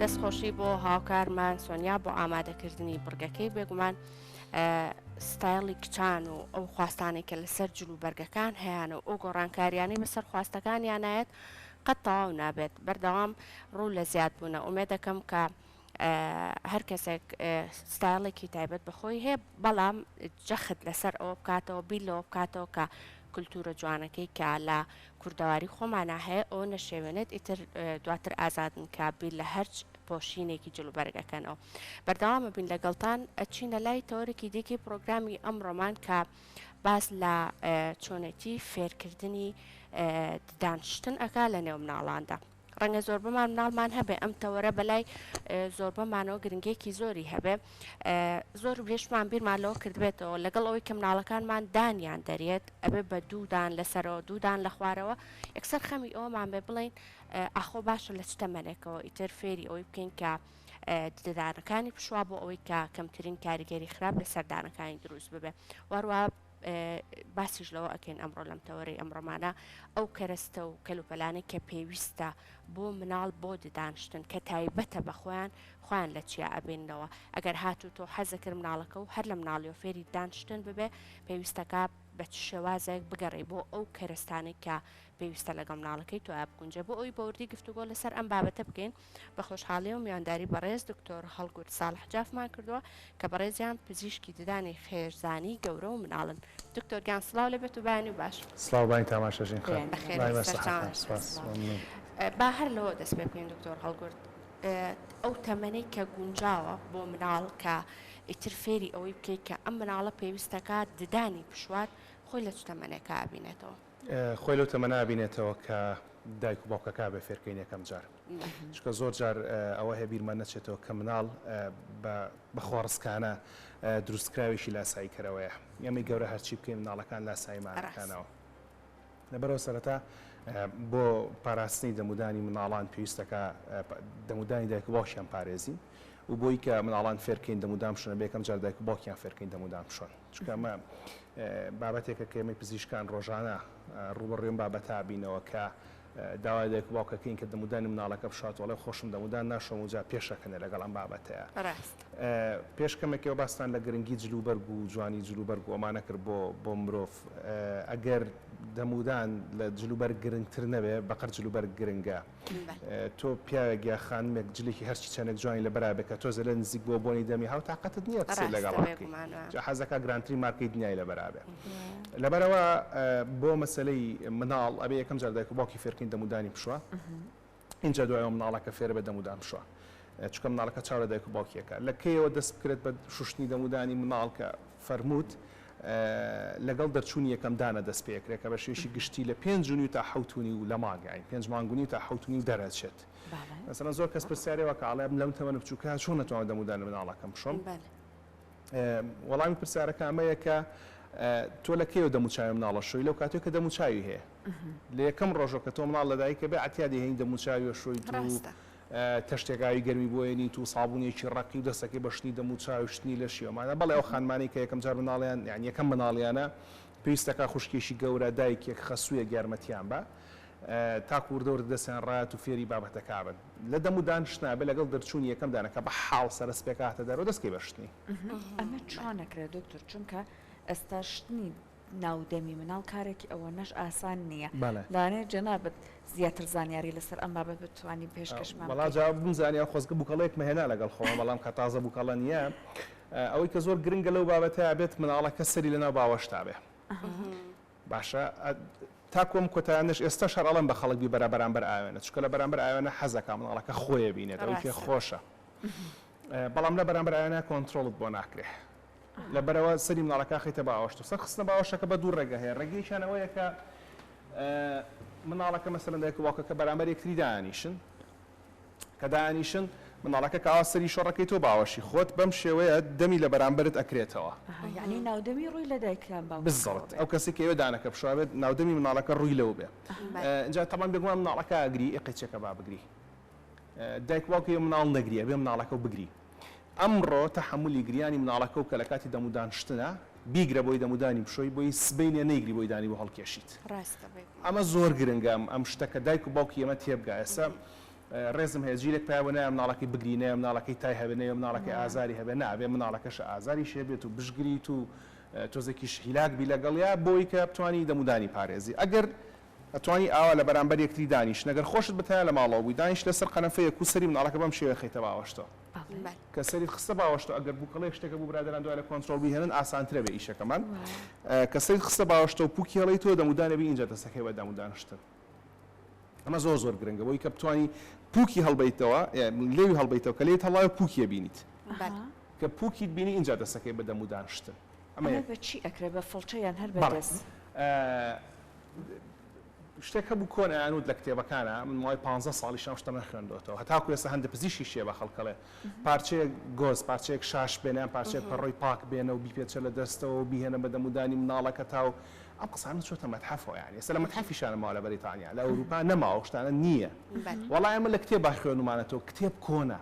دەستخۆشی بۆ هاوکارمان سۆنیا بۆ ئامادەکردنی بڕگەکەی بێگومان ستایلی کچان و ئەو خواستانی کە لەسەر جل و بەرگەکان هەیەیان و ئەو گۆڕانکاریانەی بەسەر خواستەکانیانایەت قەت تەواو نابێت بەردەوام ڕوو لە زیاد بوونە ئومێ دەکەم کە هەر کەسێک ستایڵێکی تایبەت بە خۆی هەیە بەڵام جەخت لەسەر ئەوە بکاتەوە بیر لەوە بکاتەوە کە کللتورە جوانەکەی کە لە کوردەواری خۆمانە هەیە ئەو نەشێوێنێت ئیتر دواتر ئازادن کە بیر لە هەرچ پۆشینێکی جلوبەرگەکەنەوە بەردەوامە بین لەگەڵتان ئەچینە لای تەوەرێکی دیکی پرۆگرامی ئەم ڕۆمان کە باز لە چۆنێتی فێرکردنی دانشتن ئەکا لە نێو مناڵاندا. ڕەنگە زۆربەمان مناڵمان هەبێ ئەم تەوەرە بەلای زۆربەمانەوە گرنگێکی زۆری هەبێ زۆر بێشمان بیرمان لەوە کردبێتەوە لەگەڵ ئەوەی کە مناڵەکانمان دانیان دەرێت ئەبێ بە دوودان لەسەرەوە دوودان لە خوارەوە یەکسەر خەمی ئەومان بێ بڵین ئاخۆ باشە لە چتەمەنێکەوە ئیتر فێری ئەوەی بکەین کە ددانەکانی پشوا بۆ ئەوەی کە کەمترین کاریگەری خراپ لە سەردانەکانی دروست ببێ وەروە باسیش لەوە ئەکەین ئەمڕۆ لەم تەوەرەی ئەمڕۆمانە ئەو کەرەستە و کەلوپەلانەی کە پێویستە بۆ مناڵ بۆ ددانشتن کە تایبەتە بە خۆیان خۆیان لە چیا ئەبێنەوە ئەگەر هاتوو تۆ حەزەکرد مناڵەکە و هەر لە مناڵی و فێری دانشتن ببێ پێویستەکە بە چ شێوازێک بگەڕێ بۆ ئەو کەرستانێک کە پێویستە لەگەڵ مناڵەکەی تۆ بگونجێ بۆ ئەوی بەوردی گفتوگۆ لەسەر ئەم بابەتە بکەین بە خۆشحاڵی و میوانداری بەڕێز دکتۆر هەڵگورد ساڵح جافمان کردووە کە بەڕێزیان پزیشکی ددانی خێرزانی گەورە و مناڵن دکتۆر گیان سڵاو لە بێت و بایانی و باش سڵاو بانی تاماشەژین خان بەخێر بێت، بەخێر سەرتان سەرتان سپاس سپاس سڵاو. ممنون با هەر لەوە دەست پێ بکەین دکتۆر هەڵگورد اه، ئەو تەمەنەی کە گونجاوە بۆ مناڵ کە ئیتر فێری ئەوەی بکەیت کە ئەم مناڵە پێویستەکات ددانی پشووار خۆی لە چ تەمەنێکا ئەبینێتەوە؟ خۆی لەو تەمەنە ئەبینێتەوە کە دایک و باوکەکە بێ فێرکەین یەکەم جار چکە زۆر جار ئەوە هەیە بیرمان نەچێتەوە کە مناڵ بە خۆڕسکانە دروستکراوێکی لاسایی کەرەوەیە ئەمەی گەورە هەرچی بکەین مناڵەکان لاسایمانەکانەوە لەبەرەوە سەرەتا بۆ پاراستنی دەمودانی مناڵان پێویستەکە دەمودانی دایک و باوکیان پارێزین و بۆی کە مناڵان فێرکەین دەمودام شوێنە بێکەم جار دایک و باوکیان فێرکەین دەمودام شوێن چونکە ئەمە بابەتێکە کە ئێمەی پزیشکان ڕۆژانە ڕووبەڕووی بابەتا بینەوە کە داوای دایک و باوکەکەین کە دەمودانی مناڵەکە بشات وڵێ خۆشم دەمودان ناشۆم و جا پێشەکەنێ لەگەڵ ئەم بابەتەیە پێش کەمێکەوە باستان لە گرنگی جل و بەرگ و جوانی جل و بەرگ و ئەمانە کرد بۆ بۆ مرۆڤ ئەگەر دەمودان لە جل و بەرگ گرنگتر نەبێ بەقەر جل و بەرگ گرنگە. تۆ پیاوێک یا خانمێک جلێکی هەرچی چەندێک جوانی لەبەرا بێت کە تۆ زەلە نزیک بۆ بۆنی دەمی هاو تاقەتت نییە قسەی لەگەڵا بکەی جا حەزەکا گرانترین مارکەی دنیای لەبەرا بێ لەبەرەوە بۆ مەسەلەی مناڵ ئەبێ یەکەم جار دایک و باوکی فێرکەین دەمودانی پشوە ئینجا دوایەوە مناڵەکە فێرە بە دەمودان پشوە چکە مناڵەکە چاو لە دایک و باوکیەکە لە کەیەوە دەست بکرێت بە شوشتنی دەمودانی مناڵکە فەرمووت لەگەڵ دەرچوونی یەکەم دانە دەست پێکرێ کە بە شێوەیەکی گشتی لە پێنج و نیو تا حەوت و نیو لە مانگە یانی پێنج مانگ و نیو تا حەوت و نیو دەرەچێت مەسەلەن زۆر کەس پرسیارێ وەکە ئاڵێ من لەم تەمەنە بچووکە چۆن نەتوانم دەمودان لە مناڵەکەم بشۆم وەڵامی پرسیارەکە ئەمەیە کە تۆ لە کێوە دەموچاوی مناڵە شوی لەو کاتێک کە دەموچاوی هەیە لە یەکەم ڕۆژەکە تۆ مناڵ لەدایکە بێ عتیادی هەین دەموچاوی شوی تەشتێک ئاوی گەرمی بۆ ێنیت و سابونێکی ڕەقی و دەستەکەی بە شتنی دەم و چاوی و شتنی لەشی ئەومانە بەڵێ ئەو خانمانەی کە یەکەم جار مناڵیان یانی یەکەم مناڵیانە پێویستەکا خوشکێکی گەورە دایکێک خەسوویەک یارمەتیان با تاکو وردە وردە دەستیان ڕایەت و فێری بابەتەکا بن لە دەم و دانشتنا بێ لەگەڵ دەرچوونی یەکەم دانە کە بە حاڵ سەرە سپێکە هاتە دەرەوە دەستکەی بە شتنی ئەمە چۆن ئەکرێ دکتور چونکە ئێستا شتنی ناو دەمی مناڵ کارێکی ئەوەنەش ئاسان نیە لەوانەیە جەنابت زیاتر زانیاری لەسەر ئەم بابەت بتوانی پێشکەشمان بکەی. وەڵا جا بمزانیا خۆزگە بوکەڵەیەکمە هێنا لەگەڵ خۆما بەڵام کە تازە بوکەڵە نیە ئەوەی کە زۆر گرنگە لەو بابەتە ئەبێت مناڵەکە سەری لەناو باوەشتا بێ باشە تاکو ئەم کۆتایانەش ئێستەش هەر ئەڵێم بە خەڵک بیبەرە بەرامبەر ئاوێنە چونکە لە بەرامبەر ئاوێنە حەزەکا مناڵەکە خۆێ بینێت ئەوەی پێ خۆشە بەڵام لە بەرامبەر ئاوێنە کۆنترۆڵت بۆ ناکرێ لەبەرئەوە سەری مناڵەکە ئەخەیتە باوەشت و سەر خستنە باوەشەکە بە دوو ڕێگە هەیە، ڕێگەیەکیان ئەوەیە کە مناڵەکە مەسەلەن دایک و باوکەکە بەرامبەر یەکتری دائەنیشن کە دائەنیشن مناڵەکە کە ئاوا سەری شۆڕ ئەکەیتەوە باوەشی خۆت بەم شێوەیە دەمی لە بەرامبەرت ئەکرێتەوە. ئەها یەعنی ناودەمی ڕووی لە دایک یان باوکەکەوە بێت. بالزبط ئەو کەسەی کە ئێوە دانەکە بشوا بێت ناودەمی مناڵەکە ڕووی لەو بێ ئینجا تەبعەن بێگومان مناڵەکە ئەگری ئێ قەیچەکە با بگری دایک و باوک ئێ مناڵ نەگری ئەبێ مناڵەکە بگری. ئەمڕۆ تەحەمولی گریانی مناڵەکەو کە لەکاتی دەمودانشتنە بیگرە بۆی دەمودانی بشۆی بۆی سبەینێ نەیگری بۆی دانی بۆ هەڵکێشیت ئەمە زۆر گرنگە ئەم شتە کە دایک و باوکی ئێمە تێبگا ئێستا ڕێزم هەیە جیلێک پیا بۆ نایە مناڵەکەی بگری نەیە مناڵەکەی تای هەبێ نەیە مناڵەکەی ئازاری هەبێ نا ئەبێ مناڵەکەشە ئازاریش هەبێت و بشگریت و تۆزێکیش هیلاک بی لەگەڵیا بۆی کە بتوانی دەمودانی پارێزی ئەگەر ئەتوانی ئاوا لە بەرامبەر یەکتری دانیشن ئەگەر خۆشت بە تەنیا لە ماڵەوە بووی دانیش لە سەر قەنەفە یەک و سەری مناڵەکە بەم شێوەیە خەیتە باوەشتۆ کە سەریت خستە باوەشتۆ ئەگەر بوکەڵەیەک شتێکە بوو برادەران دوای لە کۆنترۆڵ بیهێنن ئاسانترە بێ ئیشەکەمان کە سەریت خستە باوەشتۆ و پوکی هەڵەیتەوە دەمودان ئەبی ئینجا دەست ئەکەی بە دام و دانشتن ئەمە زۆر زۆر گرنگە بۆی کە بتوانی پوکی هەڵبەیتەوە لێوی هەڵبەیتەوە کە لێیت هەڵایە پوکی ئەبینیت کە پوکیت بینی ئینجا دەست ئەکەی بە دەمودانشتن. ئەمە بە چی ئەکرێ بە فڵچە یان هەر بە دەست؟ بەڵێ شتێک هەبوو کۆن ئەیانوت لە کتێبەکانا من ماوەی پانزە ساڵیش ئەم شتە نەخوێندۆتەوە هەتاکو ئێستا هەندە پزیشکیش هەیە بە خەڵکەڵێ پارچەیەک گۆز پارچەیەک شاش بێنە یان پارچەیەک پەڕۆی پاک بێنە و بیپێچە لە دەستەوە و بیهێنە بە دەمودانی مناڵەکەتا و ئەم قسانە چۆتە مەتحەفەوە یانی ئێستا لە مەتحەفیشانە ماوە لە بەریتانیا لە ئەوروپا نەماوە ئەو شتانە نییە وەڵا ئێمە لە کتێبا خوێنومانەتەوە کتێب کۆنە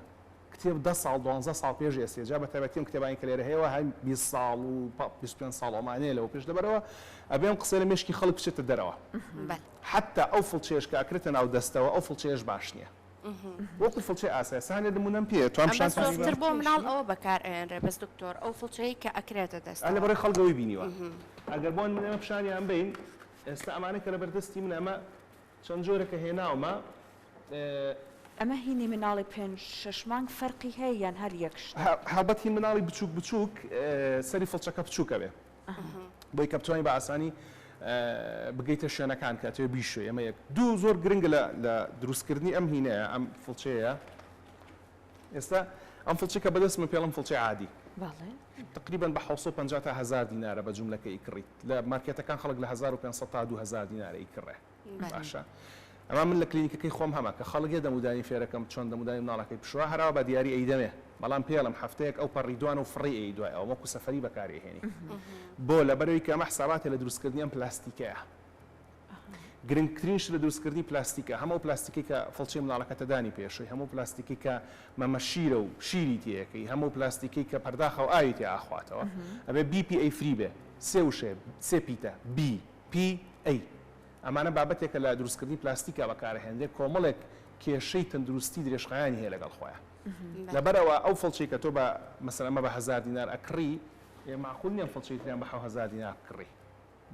کتێب دە ساڵ دوانزە ساڵ پێش ئێستێ جا بەتایبەتی ئەم کتێبانەی کە لێرە هەیەوە هەر بیست ساڵ و بیست پێنج ساڵ ئەمانەیە لەوە پێش لەبەرئەوە ئەبێ ئەم قسەیە لە مێشکی خەڵک بچێتە دەرەوە حەتتا ئەو فڵچەیەش کە ئەکرێتە ناو دەستەوە ئەو فڵچەیەش باش نیە وەکو فڵچەی ئاسای سانێ نمونەم پێیە توام پیشانتان بدەم ئەمە زۆرتر بۆ مناڵ ئەوە بەکار ئەیەنرێ بەس دکتۆر ئەو فڵچەی کە ئەکرێتە دەستەوە ئەلێ بەڕێ خەڵک ئەوەی بینیوە ئەگەر بۆ نمونە ئێمە پیشانیان بەین ئێستا ئەمانەی کە لەبەر دەستی منە ئەمە چەند جۆرە کە هێناومە. ئەمە هینی مناڵی پێنج شەش مانگ فەرقی هەیە یان هەر یەک شتە؟ هەڵبەت هی مناڵی بچوک بچوک سەری فڵچەکە بچوکە بێ بۆی کە بتوانی بە ئاسانی بگەیتە شوێنەکان کە ئەتەوێ بیشۆی ئەمە یەک دوو زۆر گرنگە لە دروستکردنی ئەم هینەیە ئەم فڵچەیە ئێستا ئەم فڵچەی کە بەدەستمە پێڵم فڵچەی عادی تقریبا بە حەوت سەد و پەنجا تا هەزار دینارە بە جوملەکە ئیکڕیت لە مارکێتەکان خەڵک لە هەزار و پێنج سەد تا دوو هەزار دینارە ئیکڕێ باشە ئەما من لە کلینیکەکەی خۆم هەمە کە خەڵک یە دەمودانی فێرەکەم چۆن دەمودانی مناڵەکەی پشوا هەراوە بە دیاری ئەیدەمێ بەڵام پێڵم هەفتەیەک ئەو پەڕی دوان و فڕی ئەی دوای ئەوە وەکو سەفەری بەکاری ئەهێنی بۆ لەبەرەوەی کە ئەمە حساباتێ لە دروستکردنی ئەم پلاستیکەیە گرنگترین شت لە دروستکردنی پلاستیکە هەم ئەو پلاستیکەی کە فڵچەی منداڵەکەتە دانی پێشەوەی، هەم ئەو پلاستیکەی کە مەمە شیرە و شیری تێ ئەکەی، هەم ئەو پلاستیکەی کە پەرداخە و ئاوی تێ ئاخواتەوە، ئەبێ بی پی ئەی فری بێ، سێ وشەیە سێ پیتە، بی، پی، ئەی، ئەمانە بابەتێکە لە دروستکردنی پلاستیکا بەکار ئەهێنرێ کۆمەڵێک کێشەی تەندروستی درێژخایەنی هەیە لەگەڵ خۆیان لەبەر ئەوە ئەو فڵچەی کە تۆ بە مەسەلەن ئەمە بە هەزار دینار ئەکڕی، مەعقول نیە ئەم فڵچەی تریان بە حەو هەزار دینار بکڕی.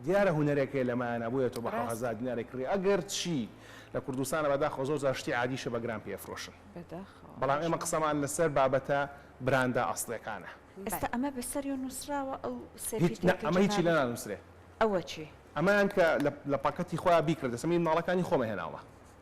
دیارە هونەرێکێ لەمایانە بۆیە تۆ بە حەو ڕاست. هەزار دیناری کڕی ئەگەر چی لە کوردستانە بەداخەوە زۆر جار شتی عادیشە بە گران پێ ئەفرۆشن بەداخەوە بەڵام ئێمە ماشاءاللە. قسەمان لەسەر بابەتە براندە ئەسڵیەکانە. بەل. ئێستا ئەمە بەسەریۆ نوسراوە ئەو سێ هیچ نا پیتێکە ئەمە هیچی جەنابت لێنانوسرێ. ئەوە چی. ئەمەیان کە لە پاکەتی خۆیان بیکڕێت ئێستا من ماڵەکانی خۆمە هێناومە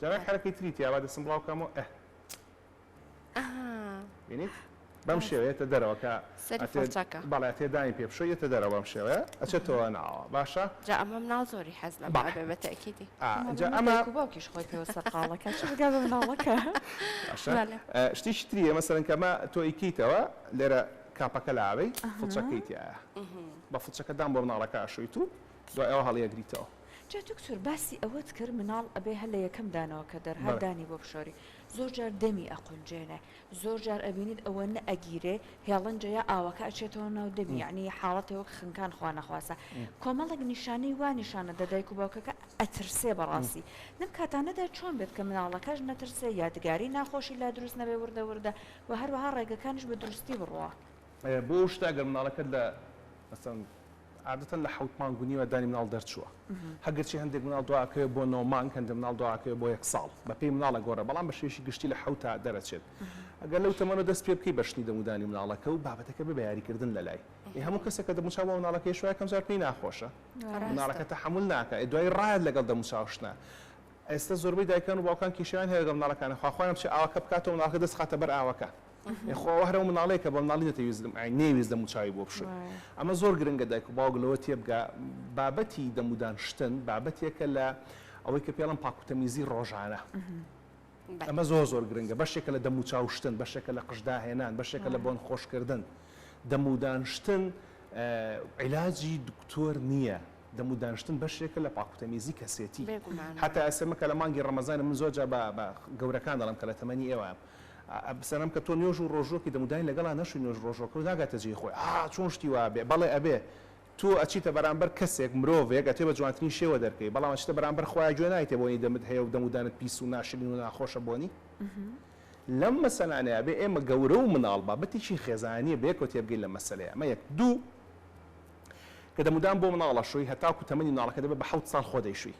جاران حەرەکەی تری تیە با دەستم بڵاو کەمەوە ئەه ئەها بینیت بەم شێوە یەتە دەرەوە کە سەری ئەتێ فڵچەکە بەڵێ ئەتێ دانی پێ بشۆی یەتە دەرەوە بەم شێوەیە ئەچێتەوە ناوە باشە جا ئەمە مناڵ زۆری حەز لەمە بەڵێ ئەبێ بە تەئکیدی ئا ئەمە ئینجا بەمە ئەمە دایک و باوکیش خۆی پێوە سەرقاڵەکە چ بگا بە مناڵەکە باشە بەڵێ ئە شتیکی تریە مەسەلەن کە مە تۆ ئیکەیتەوە لێرە کاپەکە لاوەی ئەها فڵچەکەی تیایە بە فڵچەکە دان بۆ مناڵەکە ئەشۆیت و دوای ئەوە هەڵیەگریتەوە جا دکتۆر باسی ئەوەت کرد مناڵ ئەبێ هەر لە یەکەم دانەوە کە دەرهات دانی بۆ بشۆری زۆر جار دەمی ئەقونجێنێ زۆر جار ئەبینیت ئەوە نە ئەگیرێ هێڵنجە یا ئاوەکە ئەچێتەوە ناو دەمی یەعنی حاڵەتێ وەک خنکان خوا نەخواستە کۆمەڵێک نیشانەی وا نیشانە دە دایک و باوکەکە ئەترسێ بەڕاستی لەم کاتانەدا چۆن بێت کە مناڵەکەش نەترسێ یادگاری ناخۆشی لا دروست نەبێ وردە وردە وە هەروەها ڕێگەکانیش بە دروستی بڕوا. بۆ ئەو شتە ئەگەر مناڵەکەت لە مەسەن عادەتەن لە حوت مانگ و نیوە دانی مناڵ دەرچووە هەگەرچی هەندێک مناڵ دواکەوێت بۆ نۆ مانگ هەندە مناڵ دواکەوێت بۆ یەک ساڵ بە پێی مناڵە گۆڕە بەڵام بە شێشی گشتی لە حوتا دەرەچێت ئەگەر لەو تەمەەوە دەست پێ بکەی بە شتنی دەمودانی مناڵەکە و بابەتەکە بە یاریکردن لە لای هەموو کەسێکە دەموچا بۆ مناڵەکە شوای کەمزار پێی ناخۆشە مناڵەکە تەحمل ناکە دوای ڕایەت لەگەڵ دەموچاوشتە ئێستا زۆربەی دایکان و باوکان کیشیان هەیە لەگەڵ مناڵەکانە خواخوایان بچێ ئاوەکە بکاتەوە مناڵەکە دەست خاتە بەر ئاوەکە خۆ ئەوە هەر ئەو مناڵەیە کە بە مناڵی دەتەویستم ئای نەیویست دەم و چاوی بۆ بشۆی ئەمە زۆر گرنگە دایک و باوک لەوە تێبگا بابەتی دەمودان شتن بابەتێکە لە ئەوەی کە پێڵم پاکوتەمیزی ڕۆژانە ئەمە زۆر زۆر گرنگە بەشێکە لە دەم و چاو شتن بەشێکە لە قشداهێنان بەشێکە لە بۆن خۆشکردن دەمودان شتن عیلاجی دکتۆر نییە دەم و دانشتن بەشێکە لە پاکوتەمیزی کەسێتی هەتا ئەسێمەکە لە مانگی ڕەمەزانە من زۆر جا بە گەورەکان دەڵم کە لە تەمەنی ئێوە سەرم کە تۆ نوێژ و ڕۆژووەکی دەمودای لەگەڵا نەشوی نوێژ ڕۆژوەکەوت ناگاتە جێی خۆی ئا چۆن شتی وا ئەبێ بەڵێ ئەبێ تۆ ئەچیتە بەرامبەر کەسێک مرۆڤێک ئەتوێ بە جوانترین شێوە دەرکەی بەڵام ئەچیتە بەرامبەر خوا گوێ نایتێ بۆنی دەمت هەیە و دەمودانت پیس و ناشرین و ناخۆشە بۆنی لەم مەسەلانەیە ئەبێ ئێمە گەورە و مناڵ بابەتێکی خێزانیە بەیەکەوە تێبگەین لەم مەسەلەیە ئەمە یەک دوو کە دەمودان بۆ مناڵ ئەشۆی هەتاکو تەمەنی مناڵەکە دەبێ بە حەوت ساڵ خۆ دەیشوی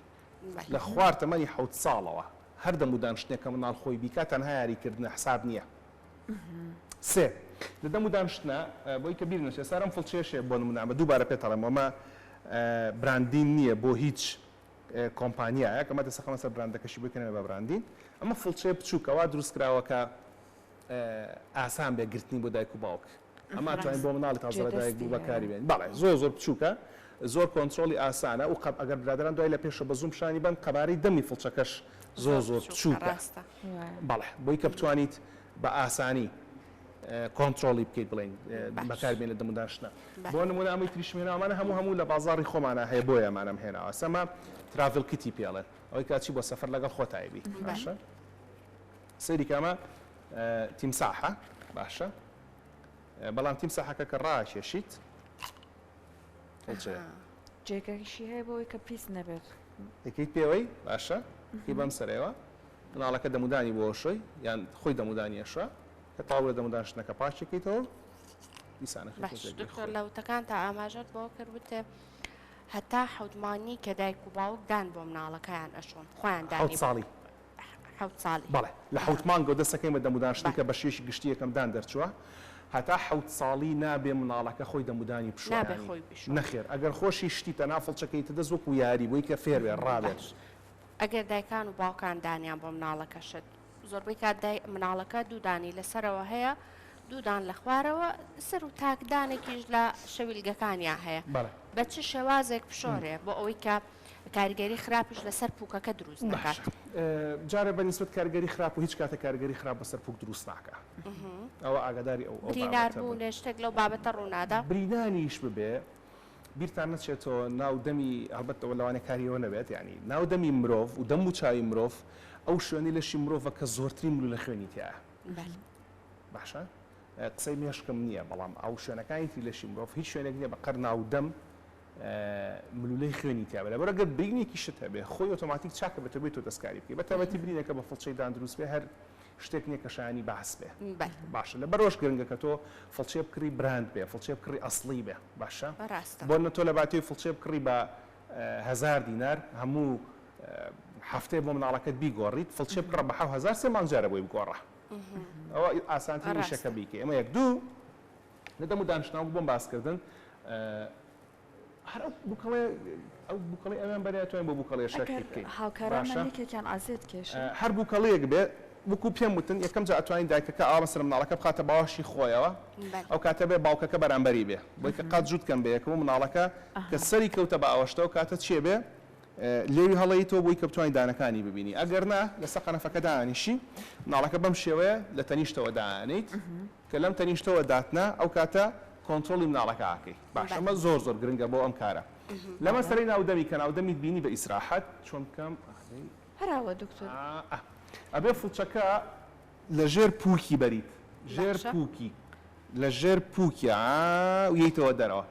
لە خوار تەمەنی حەوت ساڵەوە هەر دەم و دان شتێک کە منداڵ خۆی بیکات تەنها یاری کردنە حساب نیە سێ لە دەم و دان شتە بۆی کە بیر نەچێ سارم فڵچێشێ بۆ نمونە ئەمە دووبارە پێت ئەڵێم ئەمە براندین نیە بۆ هیچ کۆمپانیایەک ئەمە دەسەقەمە سەر براندەکەشی بۆی کە نەبێ بە براندین ئەمە فڵچەیە بچووکە وا دروست کراوە کە ئاسان بێ گرتنی بۆ دایک و باوک ئەمان توانین بۆ مناڵی تازە لە دایک بوو بەکاری بێنین بەڵێ زۆر زۆر بچوکە زۆر کۆنترۆڵی ئاسانە و قەب ئەگەر برادەران دوای لە پێشە بە زووم پیشانی بەن قەبارەی دەمی فڵچەکەش زۆر زۆر بچوکە بەڵێ بۆی کە بتوانیت بە ئاسانی کۆنترۆڵی بکەیت بڵێن بەکاری بێنە دەم و داشتنە بۆ نمونە ئەمەی تریشم هێناوە ئەمانە هەموو هەموو لە بازاڕی خۆمانە هەیە بۆیە ئەمانەم هێناوە ئەسە ئەمە تراڤل کیتی پێڵێن ئەوەی کە ئەچی بۆ سەفەر لەگەڵ خۆتایبی باشە سەیری کە ئەمە تیمساحە باشە بەڵام تیمساحەکە کە ڕاکێشیت هەڵچەیە. جێگەیشی هەیە بۆی کە پیس نەبێت. دەکەیت پێوەی باشە هی بەم سەرەوە مناڵەکە دەمودانی بۆ شوی یان خۆی دەمودانی ئەشوا کە تاوە دەموداشتنەکە پاچەکەیتەوە دکتۆر لە وتەکان تا ئاماژەت بۆ کرد وتێ هەتا حەوتمانی کە دایک و باوک دان بۆ مناڵەکەیان ئەشۆن خۆیان دانی ساڵی حەوت ساڵی. بەڵێ لە حەوت مانگەوە دەست ئەکەین بە دەمودان شتێکە بەشێکی گشتی یەکەم دان دەرچووە هەتا حەوت ساڵی نابێ مناڵەکە خۆی دەمودانی بشۆرانی نەخێر ئەگەر خۆشی شتی تەنها فڵچە کەیتە دەست وەکو یاری بۆی کە فێر بێ ڕابێت. ئەگەر دایکان و باوکان دانیان بۆ مناڵەکە شت زۆربەی کات دای مناڵەکە دوو دانی لە سەرەوە هەیە دوو دان لە خوارەوە سەر و تاک دانێکیش لە شەویلگەکانیان هەیە بە چ شێوازێک بشۆرێ بۆ ئەوەی کە کاریگەری خراپیش لەسەر پوکەکە دروست دەکات. باشە جارێ بە نیسبەت کاریگەری خراپ و هیچ کاتێک کاریگەری خراپ بەسەر پوک دروست ناکات ئەوە ئاگاداری ئەو بابەتە بن. برینار بوو لە شتێک لەو بابەتە ڕوو نادا. برینانیش ببێ بیرتان نەچێتەوە ناو دەمی هەڵبەت ئەوە لەوانەیە کاری ئەوە نەبێت یانی ناو دەمی مرۆڤ و دەم و چاوی مرۆڤ ئەو شوێنەی لەشی مرۆڤە کە زۆرترین ملوولە خوێنی تیایە باشە قسەی مێشکم نییە بەڵام ئەو شوێنەکانی تری لەشی مرۆڤ هیچ شوێنێک نییە بە قەد ناو دەم ملولەی خوێنی تیابێت لەبەر ئەگەر برینێکی شت هەبێت خۆی ئۆتۆماتیک چاکە بە تۆبێت تۆ دەستکاری بکەی بە تابەتی برینەکە بە فڵچەی دان دروست بێ هەر شتێک نییە کە شایانی باس بێ باشە لە بەرۆژ گرنگە کە تۆ فڵچێ بکڕی براند بێ فڵچێ بکڕی ئەسڵی بێ باشە بۆ نە تۆ لە باتی فڵچێ بکڕی بە هزار دینار هەموو هەفتەیە بۆ مناڵەکەت بیگۆڕیت فڵچێ بکڕە بە حەو هزار سێ مانگجارە بۆی بگۆڕە ئەوە ئاسانترین شەکە بیکە ئەمە یەک دوو لە دەم و دانشتنەوەک بۆم باس کردن هەر ئەو بوکەڵێ ئەو بوکەڵی ئەویان بەریا توانین بۆ بوکەڵێ شەرحی بکەین هاوکارانمان یەکێکیان ئازێت کێش هەر بوکەڵەیەک بێ وەکو پێم وتن یەکەم جا ئەتوانین دایکەکە ئاوا سەر مناڵەکە بخاتە باوەشی خۆیەوە ئەو کاتە بێ باوکەکە بەرامبەری بێ بۆی کە قات جووت کەم بەیەکەوە و مناڵەکە کە سەری کەوتە بە ئەوەشتەوە کاتە چێ بێ لێوی هەڵەیتەوە بۆی کە بتوانین دانەکانی ببینی ئەگەر نا لەسەر قەنەفەکە دانیشی مناڵەکە بەم شێوەیە لە تەنیشتەوە دانیت کە لەم تەنیشتەوە داتنا ئەو کاتە کۆنترۆڵی مناڵەکە ئاکەی باش ئەمە زۆر زۆر گرنگە بۆ ئەم کارە لە مەسەلەی ناو دەمی کە ناو دەمیت بینی بە ئیسراحەت چۆن بکەم ئەخەی هەراوە دکتۆر ئا ئەبێ فڵچەکە لە ژێر پووکی بەریت ژێر پووکی لە ژێر پووکیا ویەیتەوە دەرەوە.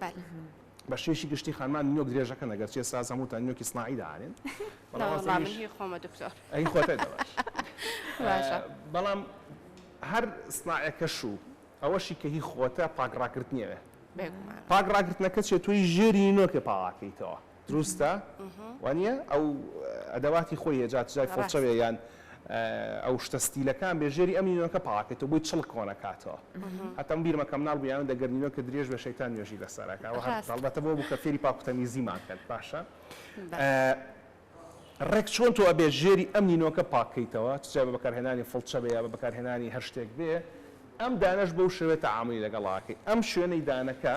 بەلام. بە شێوەیەکی گشتی خانمان نۆک درێژەکەن ئەگەر چێ ساز هەمووتان نۆکی سناعی دانێن بەڵام هەر سناعەکەش و ئەوەشی کە هی خۆتە پاک ڕاکردنیەوێ پاک ڕاگرتنەکە چێت توی ژێری نۆکێ پاواکەیتەوە دروستە وانیە ئەو ئەدەواتی خۆی هەیە جات جای فڵچەێ یان ئەو شتە ستیلەکان بێ ژێری ئەم نینۆکە پاکێتەوە بۆی چڵک کۆنەکاتەوە هەتەم بیرمە کەم ناڵ بیان دەگەر نینۆ کە درێژ بە شەیتان نوێژی لەسەرەکەەوە هەڵبەتە بۆ بوو کە فێری پاکوتەمیزیمان کرد باشە ڕێک چۆن تۆ ئەبێ ژێری ئەم نینۆکە پاکەیتەوە چجا بە بەکارهێنانی فڵچە بێ یا بە بەکارهێنانی هەر شتێک بێ ئەم دانەش بەو شوێتە عاملی لەگەڵاکەی ئەم شوێنەی دانەکە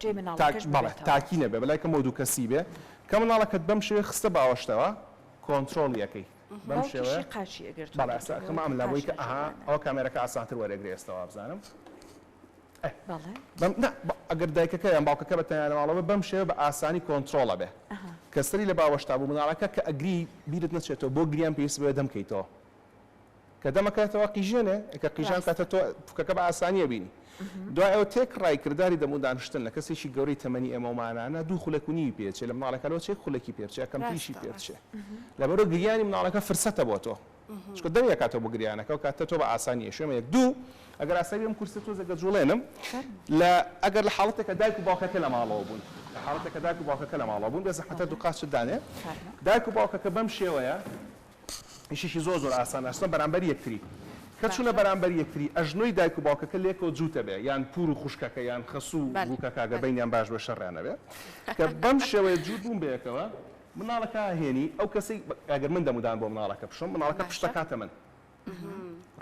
جێی مناڵەکەش ببێتەوە. بەڵێ تاکی نەبێ بەلای کەمەوە دوو کەسی بێ کە مناڵەکەت بەم شێوەیە خستە باوەشتەوە کۆنترۆڵی ئەکەی بەم شێوەیە. باوکیشی قاچی ئەگرت و بەڵێ سەر کەمە ئەم لا بۆی کە ئەها ئەوە کامێرەکە ئاسانتر وەرێگرێ ئێستا وابزانم بەڵێ نا ئەگەر دایکەکە یان باوکەکە بە تەنیا لە ماڵەوە بێ بەم شێوە بە ئاسانی کۆنترۆڵ ئەبێ کە سەری لە باوەشتا بوو مناڵەکە کە ئەگری بیرت نەچێتەوە بۆ گریان پێویست بەوێ دەم کەیتەوە کە دەمە کاتەوە قیژێنێ کە قیژان کاتە تۆ پوکەکە بە ئاسانی ئەبینی دوای ئەو تێک ڕای کردداری دەمو دانشتن لە کەسێکی گەورەی تەمەنی ئێمەمانانە دوو خولەک و نیوی پێچێ لە مناڵەکەەوە چێک خولەکی پێچێ کەم پیشی پێچێ لەبەرۆ گریانی مناڵەکە فرسەتە بۆ تۆ چکە دەم یەکاتەوە بۆ گریانەکە و کاتە تۆ بە ئاسانی شوێمە یەک دوو ئەگەر ئاسایی ئەم کورسە تۆ زەگە جوڵێنم لە ئەگەر لە حاڵەتێکە دایک و باوکەکە لە ماڵەوە بوون لە حاڵەتەکە دایک و باوکەکە لە ماڵەوە بوون بێ زەحەتە دوو قاچت دانێ دایک و باوکەکە بەم شێوەیە یشیکی زۆر زۆر ئاسان ئەچنە بەرامبەر یەکتری کە چونە باشە بەرامبەر یەکتری ئەژنۆی دایک و باوکەکە لێکەوە جوتە بێ یان پور و خوشکەکە یان خەسو و بەلێ گوکەکە گەر بەلێ بەینیان باش بێ شەریان نەبێ کە بەم شێوەیە جوت بون بەیەکەوە مناڵەکە ئەهێنی ئەو کەسەی ئەگەر من دەمو دان بۆ مناڵەکە بشۆم مناڵەکە پشت باشە ئەکاتە من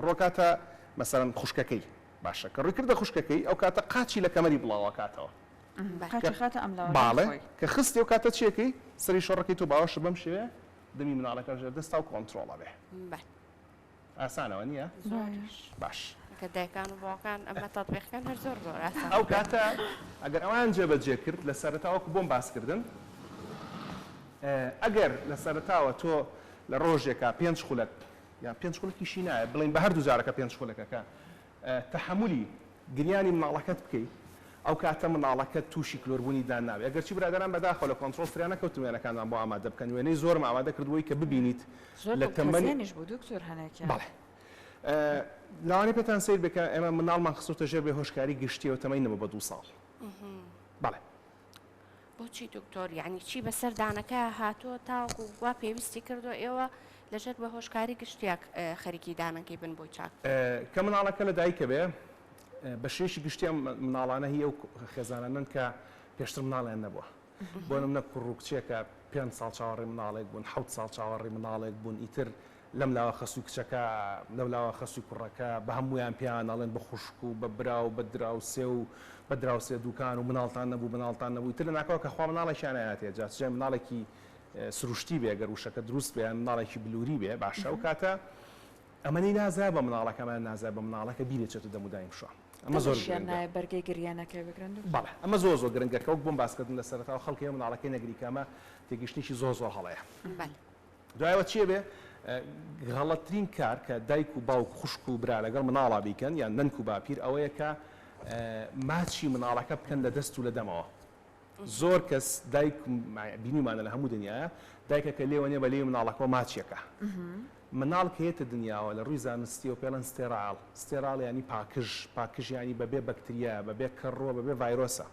ڕۆکاتە مەسەلەن خوشکەکەی باشە کە ڕوی کردە خوشکەکەی ئەو کاتە قاچی لە کەمەری بلاو ئەکاتەوە بەلێ قاچی کە ئەخاتە ئەملاوە لای باڵێ خۆی. کە خستی ئەو کاتە چیەکەی سەری شۆڕەکەی تۆ باوەشە بەم شێوەیە دەمی مناڵەکە ژێر دەستا و کۆنترۆڵە بێ. بەل. ئاسانە وە نییە؟ زۆریش. باش. کە دایکان و باوکان ئەمە تەتبیق کەن هەر زۆر زۆر ئاسانە. ئەو کاتە ئەگەر ئەوان جێ بە جێ کرد لە سەرەتا وەکو بۆم باس کردن ئەگەر لە سەرەتاوە تۆ لە ڕۆژێکا پێنج خولەک یان پێنج خولەکیشی نایە بڵێین بە هەردوو جارەکە پێنج خولەکەکە تەحەمولی گریانی مناڵەکەت بکەی ئەوکاتە مناڵەکەت توشی کلۆربونی دان نابێت ئەگەرچی برادەران بەداخەوە لە کۆنترۆڵ فریا نەکەوتم وێنەکانتان بۆ ئامادە بکەن وێنەی زۆرم ئامادە کردووەی کە ببینیت لە تەمەنی بەڵێ لەوانەیە پێتان سەیر بێت کە ئێمە مناڵمان خستۆتە ژێر بێهۆشکاری گشتیەوە تەمەنی نەبوو بە دوو ساڵ بەڵێ بۆچی دکتۆر یعنی چی بەسەر دانەکە هاتۆ تاوەکو وا پێویستی کردو ئێوە لەژێر بە هۆشکاری گشتیاک خەریکی دانەکەی بن بۆی چاک کە مناڵەکە لە دایکە بێ بە شێوەیەکی گشتی ئەم مناڵانە هی ئەو خێزانانەن کە پێشتر مناڵیان نەبووە بۆ نمونە کوڕ و کچێکە پێنج ساڵ چاوەڕێی مناڵێک بوون حەوت ساڵ چاوەڕێی مناڵێک بوون ئیتر لەم لاوە خەسوو کچەکە، لەو لاوە خەسوو کوڕەکە، بە هەموویان پێیان ئەڵێن بە خوشک و بە برا و بە دراوسێ و بە دراوسێ دووکان و مناڵتان نەبوو، مناڵتان نەبوو، ئیتر لە ناکاوە کە خوا مناڵێکیان نایاتێ، جا چ جای مناڵێکی سروشتی بێ، گەر وشەکە دروست بێ، یان مناڵێکی بلووری بێ، باشە ئەو کاتە ئەمەی نازایە بە مناڵەکە، ئەمەیان نازایە بە مناڵەکە، بیری ئەچێتە دەم و دایم شوان. ئەمە زۆر گرنگە. بەڵێ، ئەمە زۆر زۆر گرنگە کە وەک بۆم باس کردم لە سەرەتاوە، خەڵک هەیە مناڵەکەی نەگری کە ئەمە تێگەیشتنێکی زۆر زۆر هەڵەیە. دوایەوە چیە بێ غەڵەترین کار کە دایک و باوک خوشک و برا لەگەڵ مناڵا بیکەن یان نەنک و باپیر ئەوەیە کە ماچی مناڵەکە بکەن لە دەست و لە دەمەوە زۆر کەس دایک بینیمانە لە هەموو دنیاە دایکەکە لێوە نیە بە لێوی مناڵەکەەوە ماچیەکە مناڵ کە یەتە دنیاوە لە ڕووی زانستی و پێڵەن ستێراڵ ستێراڵ ینی پاکژ پاکژیانی بەبێ بەکتریا بەبێ کەڕوە بەبێ ڤایرۆسە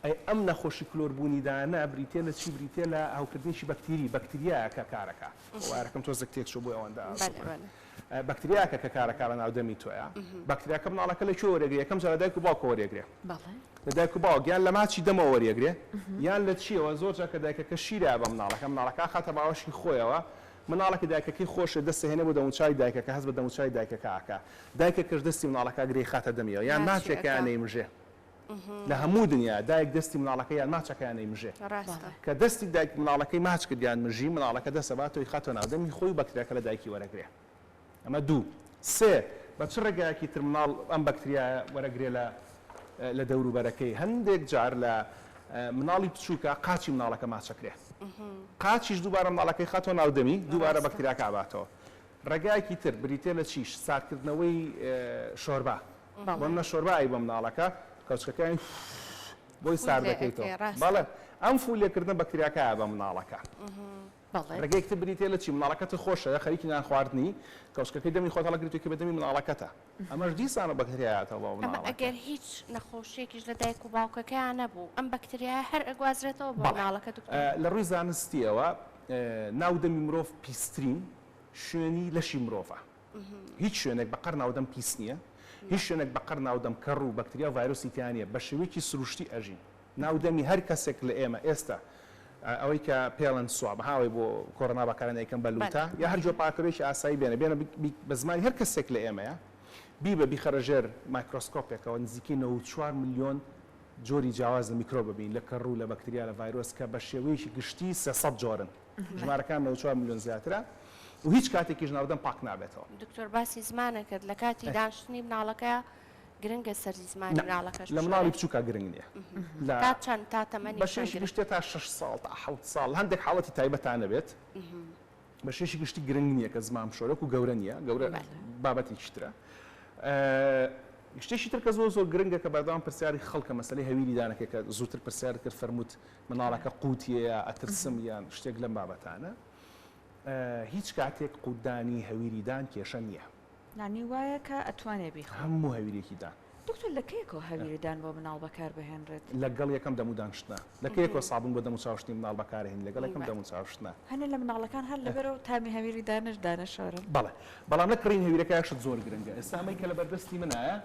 ئەی ئەم نەخۆشی کلۆر بوونی دانە بریتیە لە چی بریتیە لە هەوکردنێکی بەکتیری بەکتریایە کە کارەکە بۆ وایەرەکەم تۆزێک تێک چوە بۆی ئەوەندە ئاسووکە بەکتریاکە کە کارەکە لە ناو دەمی تۆیە بەکتریاکە مناڵەکە لە کوێ وەرێگرێ یەکەم جار لە دایک و باوکەوە وەرێگرێ لە دایک و باوک یان لە ماچی دەمەوە وەرێگرێ یان لە چیەوە زۆر جار کە دایکەکە شیرە بە مناڵەکە مناڵەکە ئەخاتە باوەشی خۆیەوە مناڵە کە دایکەکەی خۆش دەست ئەهێنێ بۆ دەموچاوی دایکەکە هەست بە دەموچاوی دایکەکە ئەکا دایکەکەش دەستی مناڵەکە ئەگرێ ئەیخاتە دەمیەوە یان ماچێکە یان ئەیمژێ لە هەموو دنیا دایک دەستی مناڵەکەی یان ماچەکەیان نەیمژێ کە دەستی دایک مناڵەکەی ماچ کرد یان مژی مناڵەکە دەست ئەبات و ئیخاتە ناو دەمی خۆی و بەکتریاکە لە دایکی وەرەگرێ ئەمە دوو سێ بە چ ڕێگایەکی تر مناڵ ئەم بەکتریایە وەرەگرێ لە لە دەورو بەرەکەی هەندێک جار لە مناڵی بچووکە قاچی مناڵەکە ماچەکرێ قاچیش دووبارە مناڵەکەی خاتۆ ناو دەمی دووبارە بەکتریاکە ئەباتەوە ڕێگایەکی تر بریتیە لە چیش ساردکردنەوەی شۆربا وەنە شۆربا ئەی بۆ مناڵەکە کەوچکەکەی بۆی ساردەکەیتەوە بەڵێ ئەم فول لێکردنە بەکتریاکایە بە مناڵەکە ڕێگەیەک تر بریتێ لە چی مناڵەکەت خۆشە خەریکی نان خواردنی کەوچکەکەی دەمی خۆت هەڵەگریتووی کە بە دەمی مناڵەکەتە ئەمەش دیسانە بەکتریایەتەوە مناڵەکە ئەگەر هیچ نەخۆشیەکیش لە دایک و باوکەکەیان نەبوو ئەم بەکتریایە هەر ئەگوازرێتەوە بۆ مناڵەکە دکتۆر لە ڕووی زانستیەوە ناو دەمی مرۆڤ پیسترین شوێنی لەشی مرۆڤە هیچ شوێنێک بە قەر ناودەم پیس نییە، هیچ شوێنێک بە قەر ناودەم کەڕ و بەکتریا و ڤایرۆسی تیا نییە، بە شێوەیەکی سروشتی ئەژین. ناو دەمی هەر کەسێک لە ئێمە ئێستا ئەوەی کە پێڵێن سواب ها ئەوەی بۆ کۆرۆنا بەکارێنە ئەیکەم بە لووتە یا هەر جۆر پاککەرۆیەکی ئاسایی بێنە بێنە بیت بە زمانی هەر کەسێک لە ئێمەیە بیبە بیخەرە ژێر مایکرۆسکۆپێکەوە نزیکەی نەوەد و چوار ملیۆن جۆری جیاواز لە میکرۆب ئەبینی لە کەڕ و لە بەکتریا لە ڤایرۆس کە بە شێوەیەکی گشتی سێ سەد جۆرن. ژمارەکان نەوەد و چوار ملیۆن زیاترە و هیچ کاتێکیش ناردن پاک نابێتەوە. دکتۆر باسی زمانە کرد لە کاتی دانشتنی مناڵەکە گرنگە سەرجی زمانی مناڵەکەش لە مناڵی بچووکە گرنگ نیە لە تا چەند تا تەمەنی بە شێشی گشتێ تا شەش ساڵ تا حەوت ساڵ هەندێک حاڵەتی تایبەتان نەبێت بە شێشی گشتی گرنگ نیە کە زمان بشۆرێ وەکو گەورە نیە گەورە بابەتێکی ترە شتێکی تر کە زۆر زۆر گرنگە کە بەردەوام پرسیاری خەڵکە مەسەلەی هەویری دانەکەی کە زووتر پرسیارت کرد فەرمووت مناڵەکە قوتیەیە ئەترسم یان شتێک لەم بابەتانە هیچ کاتێک قوتدانی هەویری دان کێشە نیە. لانی وایە کە ئەتوانێ بیخوا. هەموو هەویرێکی دان. دکتۆر لە کەیەکەوە هەویری دان بۆ مناڵ بەکار بهێنرێت؟ لەگەڵ یەکەم دەموو دانشتنە. لە کەیەکەوە سابون بۆ دەموو چاوشتنی مناڵ بەکارهێنی لەگەڵ یەکەم دەموو چاوشتنە. هەنێ لە مناڵەکان هەر لەبەرئەو تامی هەویری دانش دانەشۆرن. بەڵێ بەڵام لە کڕین هەویرەکە شت زۆر گرنگە ئێستا ئەمەی کە لەبەردەستی منایە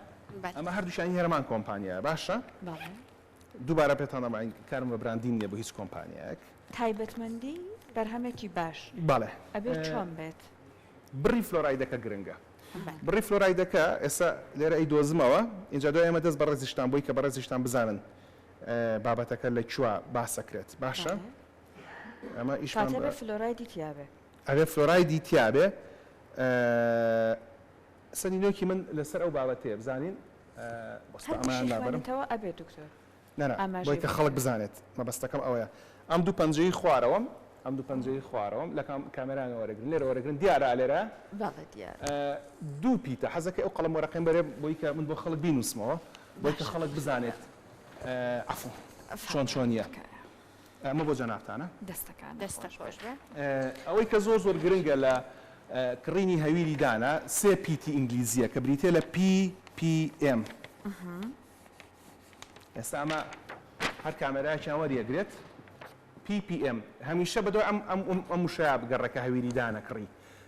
ئەمە هەردووکیانی هەرەمان کۆمپانیایە باشە دووبارە پێتان دەڵێم من کارم بە براندین نیە بۆ هیچ کۆمپانیایەک. تایبەتمەندی بەرهەمێکی باش ئەبێت چۆن بێت؟ بڕی فلۆرایدەکە گرنگە بڕی فلۆرایدەکە ئێستا لێرە ئەیدۆزمەوە ئینجا دوای ئەمە دەست بە ڕێزیشتان بۆی کە بە ڕێزیشتان بزانن بابەتەکە لە کوێ باس ئەکرێت باشە ئەمە ئیشمان بە فلۆرایدی تیابێ ئەبێ فلۆرایدی تیابێ سەرینۆکی من لەسەر ئەو بابەتەیە بزانین وەستا ئەمەیان لابەرم. هەر بشی خوێنیتەوە ئەبێ دکتۆر ئاماژەی بۆ بکەن. نانا بۆیە کە خەڵک بزانێت مەبەستەکەم ئەوەیە. ئەم دوو پەنجەی خوارەوەم ئەم دوو پەنجەی خوارەوەم لە کام کامێرایەوە وەرەگرن لێرە وەرەگرن دیارە ئا لێرە؟ بەڵێ دیارە. دوو پیتە حەزەکەی ئەو قەڵەم وەرەقەم بەرێ بۆی کە من بۆ خەڵک بینووسمەوە بۆی کە خەڵک بزانێت عەفو چۆن چۆنیە. ئەمە بۆ جەنابتانە. دەستەکانت خۆش بێت. ئەوەی کە زۆر زۆر گرنگە لە کڕینی هەویری دانە، سێ پیتی ئینگلیزییە کە بریتییە لە PPM. ئێستا ئەمە هەر کامێرایەکیان وەریەگرێت. PPM هەمیشە بە دوای ئەم وشەیە بگەڕێ کە هەویری دانە کڕی.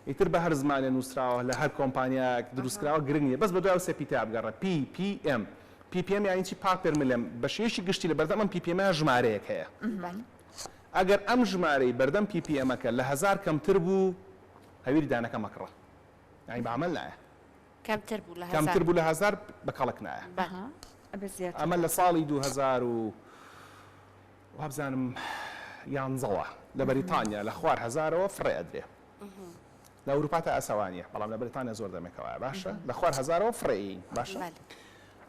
ئیتر بە هەر زمانێ نووسراوە، لە هەر کۆمپانیایەک دروست کراوە گرنگ نییە. بەس بە دوای ئەو سێ پیتەیە بگەڕێ، PPM. پی پی ئێم یانی چی؟ پاپێر ملێم بە شێوەیەکی گشتی لە بەردەم ئەم پی پی ئێمە ژمارەیەک هەیە ئەگەر ئەم ژمارەی بەردەم پی پی ئێمەکە لە هەزار کەمتر بوو هەویری دانەکە مەکڕە یانی بە عەمەل نایە کەمتر بوو لە هەزار کەمتر بوو لە هەزار بە کەڵک نایە بەها ئەبێ زیاتر ئەمە لە ساڵی دوو هەزار و وابزانم یانزەوە لە بەریتانیا لە خوار هەزارەوە فڕێ ئەدرێ لە ئەوروپا تا ئەسەوا نیە بەڵام لە بەریتانیا زۆر دەمێکە وایە باشە لە خوار هەزارەوە فڕێی باشە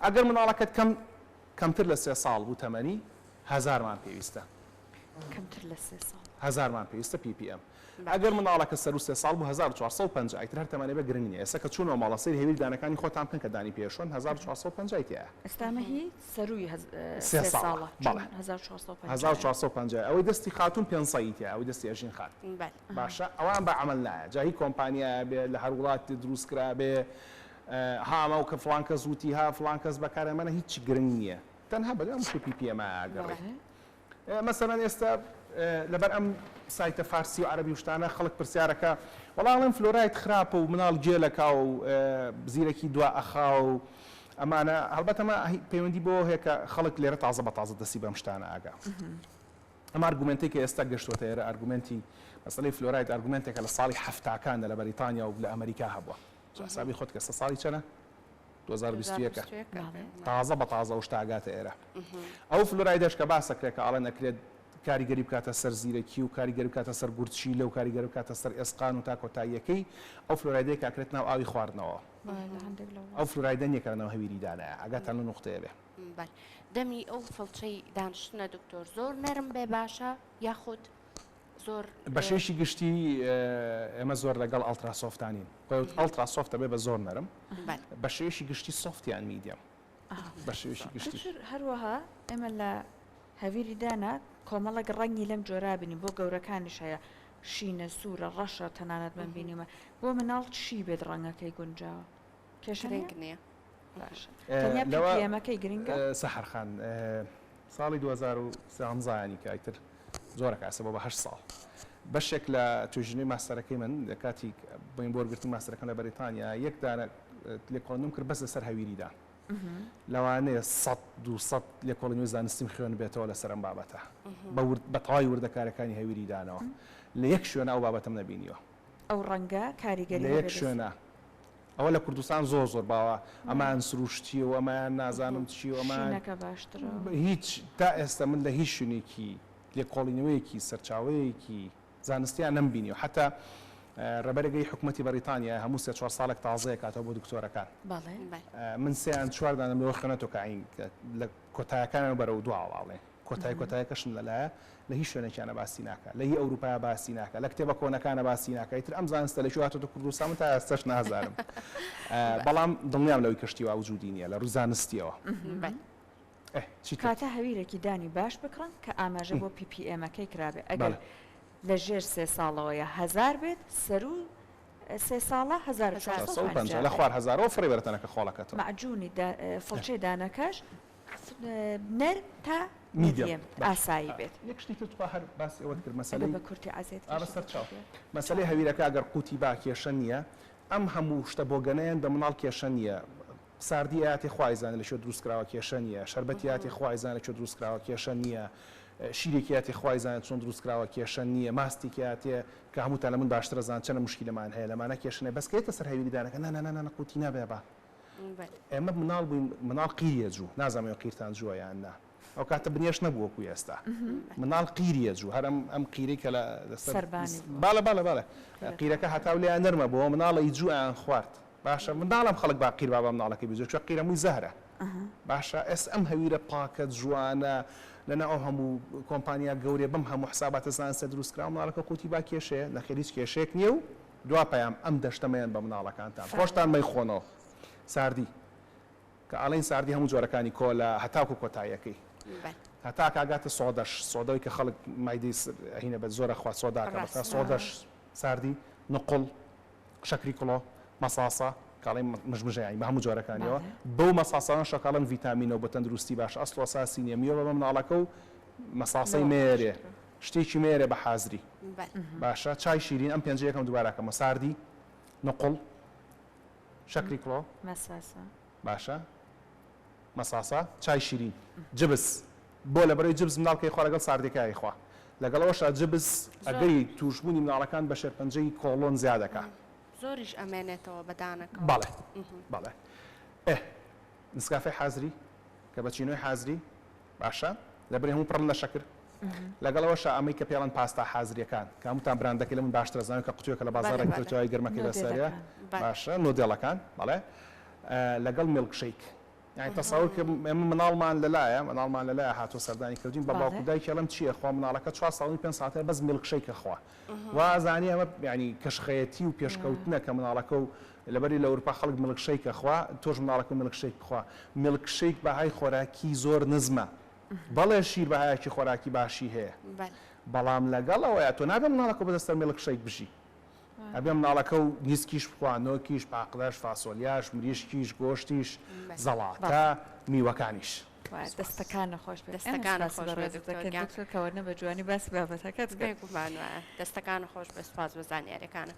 ئەگەر مناڵەکەت کەم کەمتر لە سێ ساڵ بوو تەمەنی هەزارمان پێویستە کەمتر لە سێ ساڵ هەزارمان پێویستە پی پی ئەم ئەگەر مناڵەکە سەر و سێ ساڵ بوو 1450 ئیتر هەر تەمەنێ بە گرنگ نیە ئێستا کە چوونەوە ماڵە سەیر هەویر دانەکانی خۆتان بکەن کە دانی پێشۆن 1450 تیایە ئێستا مەهیت سەرووی سێ ساڵە بەڵێ هەزار و چوار سەد و پەنجا هەزار و چوار سەد و پەنجا ئەوەی دەستی خاتوون پێنج سەدی تیایە ئەوەی دەستی ئەژین خان بەلێ باشە ئەوان بە عەمەل نایە جا هی کۆمپانیایە بێ لە هەر وڵاتێ درووست کرا بێ ها ئەمە کە فڵان کەس وتی ها فڵان کەس بەکارهێنا بەلێ هیچی گرنگ نییە تەنها بەلێ ئەم مشتەی پی پی ئێمایە ئەگەڕێی بەلێ مەسەلەن ئێستا لەبەر ئەم سایتە فارسی و عەرەبی و شتانە خەڵک پرسیار ئەکا وەڵا ئەڵێن فلۆراید خراپە و مناڵ گێل ئەکا و زیرەکی دوا ئەخا و ئەمانە هەڵبەت ئەمە پەیوەندی بەوە هەیە کە خەڵک لێرە تازە بە تازە دەستی بەم شتانە ئاگا ئەم ئارگومێنتەی کە ئێستا گەشتوەتە ئێرە ئارگومێنتی مەسەلەی فلۆراید ئارگومێنتێکە لە ساڵی حەفتاکاندا لە بەریتانیا و لە ئەمریکا هەبووە تۆ حسابی خۆت کە ئێستا ساڵی چەنە؟ دوو هەزار و بیست و یەک ە تازە بە تازە ئەو شتە ئەگاتە ئێرە ئەو فلۆرایدەش کە باسە کرێ کە ئەڵێن ئەکرێت کاریگەری بکاتە سەر زیرەکی و کاریگەری بکاتە سەر گورچیلە و کاریگەری بکاتە سەر ئێسقان و تا کۆتاییەکەی ئەو فلۆرایدەیە کە ئەکرێت ناو ئاوی خواردنەوە ئەو فلۆرایدە نییە کە لەناو هەویری دانایە ئەگاتان لەو نوقتەیە بێ دەمی ئەو فڵچەی دانیشتنە دکتۆر زۆر نەرم بێ باشە یاخود زۆر بەشێکی گشتی ئێمە زۆر لەگەڵ ئەڵترا سۆفتانین خۆت ئەڵترا سۆفتە بێ بە زۆر نەرم بەشێکی گشتی سۆفتیان میدیەم بەشێکی گشتی هەروەها ئێمە لە هەویری دانا کۆمەڵک ڕەنگی لەم جۆرابنی بۆ گەورەکانیش هەیە شینە سوورە ڕەشە تەنانەت من بینیمە بۆ مناڵ چی بێت ڕەنگەکەی گونجاوە کێشە گرنگ نیە باشە تەنیا پی پی ئێمەکەی گرنگە. سەحەر خان ساڵی دوو هەزار و سێزدە یانی کە ئیتر زۆرەک ئاسە بۆ بە هەشت ساڵ بەشێک لە توێژینەوەی ماستەرەکەی من لە کاتی بۆین بۆ وەرگرتنی ماستەرەکەم لە بەریتانیا یەک دانە لێکۆڵینەوەم کرد بەس لەسەر هەویریدا لەوانەیە سەد دوو سەد لێکۆڵینەوەی زانستیم خوێن بێتەوە لەسەر ئەم بابەتە بە ورد بە تەواوی وردەکاریەکانی هەویریدانەوە لە یەک شوێنە ئەو بابەتەم نەبینیوە ئەو ڕەنگە کاریگەری هەبێت لەیەک شوێنا ئەوە لە کوردستان زۆر زۆر باوە ئەمایان سروشتیە و ئەمایان نازانم چی و ئەمایان شینەکە باشترە هیچ تا ئێستا من لە هیچ شوێنێکی لێکۆڵینەوەیەکی سەرچاوەیەکی زانستیان نەمبینیوە حەتا ڕێبەرەگەی حکومەتی بەریتانیا هەموو سێ چوار ساڵێک تازە ئەکاتەوە بۆ دکتۆرەکان بەڵێ من سێ یان چوار دانەم لەوە خوێنەتەوە کە ئەین لە کۆتایەکانەوە بەرەو دواوە ئەڵێن کۆتای کۆتایەکەشم لە لایە لە هیچ شوێنێکیانە باسی ناکا لە هی ئەوروپایە باسی ناکا لە کتێبە کۆنەکانە باسی ناکا ئیتر ئەم زانستە لە کوێ هاتۆتە کوردستان من تا ئێستاش نازانم بەڵام دڵنیام لەوەی کە شتی وا وجودی نییە لە ڕووی زانستییەوە ئه چی تر کاتە هەویرێکی دانی باش بکڕن کە ئاماژە بۆ پی پی ئێمەکەی کرابێ ئەگەر بەڵێ لە ژێر سێ ساڵەوەیە هەزار بێت سەروو سێ ساڵە هەزار و چوار هەزار سەد و سەد و پەنجا پەنجا لە بێت خوار هەزارەوە فڕێ بەرە تەنەکە خۆڵەکەتەوە مەعجوونی دا فڵچەی دانەکەش نەرم تا میدیەم ئاسایی بێت. یەک شتی تر تخوا هەر باسی ئەوەت کرد مەسەلەی. بە کورتی عەزێت کێشە دەکات. بەسەر چاو. مەسەلەی هەویرەکە گەر قوتی با کێشە نییە. ئەم هەموو شتە بۆگەنەیەن بە مناڵ کێشە نییە. ساردی ئەیاتێ خوا ئەیزانێ لە چێ دروست کراوە کێشە نییە. شەربەتی ئەیاتێ خوا ئەیزانێ لە چۆ دروست کراوە کێشە نییە. شیرێکی ئەیاتێ خوا ئەیزانێ چۆن دروست کراوە کێشە نییە. ماستێکی ئەیاتێ کە هەمووتان لە من باشتر ئەزان چەنە موشکیلەمان هەیە لەمانە کێشە نییە بەس کە یەتە سەر هەویری دانەکە نانانانانا قوتی نابێ با. ئێمە مناڵ بووین مناڵ قیریە جوو نازانم ئێوە قیرتان جووە یان نا ئەو کاتە بنێشت نەبوو وەکو ئێستا مناڵ قیریە جوو هەر ئەم ئەم قیرەی کە لە لەسەر باڵە باڵە باڵە قیرەکە هەتاو لێیان نەرمە بۆ مناڵی جوو ئەیان خوارد باشە منداڵم خەڵک با قیر با بە مناڵەکەی بزوێ چووە قیرە مووی زەهرە باشە ئێستا ئەم هەویرە پاکە جوانە لەناو ئەو هەموو کۆمپانیا گەورەیە بەم هەموو حساباتە زانستە دروست کراوە مناڵەکە قووتی با کێشەیە نەخێر هیچ کێشەیەک نییە و دوا پەیام ئەم دەشتە مەیەن بە مناڵەکانتان خۆشتان مەیخۆنۆ ساردی کە ئەڵێن ساردی هەموو جۆرەکانی کۆلا هەتاکو کۆتایەکەی هەتا کاگاتە سۆدەش سۆدەوەی کە خەڵک مایدی ئەهینە بە زۆرە خوا سۆداکە بەسا سۆدەش ساردی نقڵ شەکری کڵۆ مەساسە کاڵی مژمژەیانی بە هەموو جۆرەکانیەوە بەو مەساسانە شەکاڵم ڤیتامینەوە بە تەندروستی باش ئەسڵ ئەساسی نیە میوە بە مناڵەکە و مەساسەی نێرێ شتێکی مەیەرێ بە حازری. بەل. باشە چای شیرین ئەم پێنجە یەکەم دوبارە کەمەوە ساردی نقوڵ شەکری کڵۆ مەساسە باشە مەساسە چای شیرین جبس بۆ لە بەرەی جبس منداڵ کەی خوا لەگەڵ ساردێکە ئەیخوا لەگەڵ ئەوەشا جبس ئەگەری توشبوونی منداڵەکان بە شێرپەنجەی کۆڵۆن زیاد ئەکا زۆریش ئەمێنێتەوە بە دانەکەوە بەڵێ بەڵێ ئێ نسکافێ حازری کەبەچینۆی حازری. باشە لەبری هەموو پڕن لە شەکر لەگەڵ ئەوەشا ئەمەی کە پێڵەن پاستا حازریەکان کە هەمووتان براندەکەی لە من باشترە زانانی کە قوتوێکە لە بازاڕێک تۆتیوای گەرمەکەی بەسەرە باشە نۆدێڵەکان بەڵێ لەگەڵ میلک شەیک یعنی تەساور کە ئێمە مناڵمان لەلایە مناڵمان لەلایە هاتۆ سەردانی کردین بە باوکو دایکێڵم چییە خوا مناڵەکە چوار ساڵنی پێ ساتێ بەس میلک شەیکە خوا وا ئەزانی ئەمە یانی کەشخەیەتی و پێشکەوتنە کە مناڵەکە و لەبەری لە ئەورپا خەڵک ملک شەیک ئەخوا تۆش مناڵەکە ملک شەیک بخوا ملک شەیک بەهای خۆراکی زۆر نزمە بەڵێ شیر بەهایەکی خۆراکی باشی هەیە بەڵام لەگەڵ ئەوەیا تۆ نابێ مناڵەکە بەدەست سەر ملک شەیک بژی ئەبێ مناڵەکە و نیسکیش بخوا نۆکیش پاقلەش فاسۆلیاش مریشکیش گۆشتیش زەڵاتە میوەکانیش. دەستەکانت خۆش بێت دەستەکانت خۆش بێت دکتۆر گیان دەستەکانت خۆش بێت دکتۆر کەوەرنە بە جوانی باسی بابەتەکەت کرد بێگومان وایە دەستەکانت خۆش بێت سوپاس بۆ زانیاریەکانت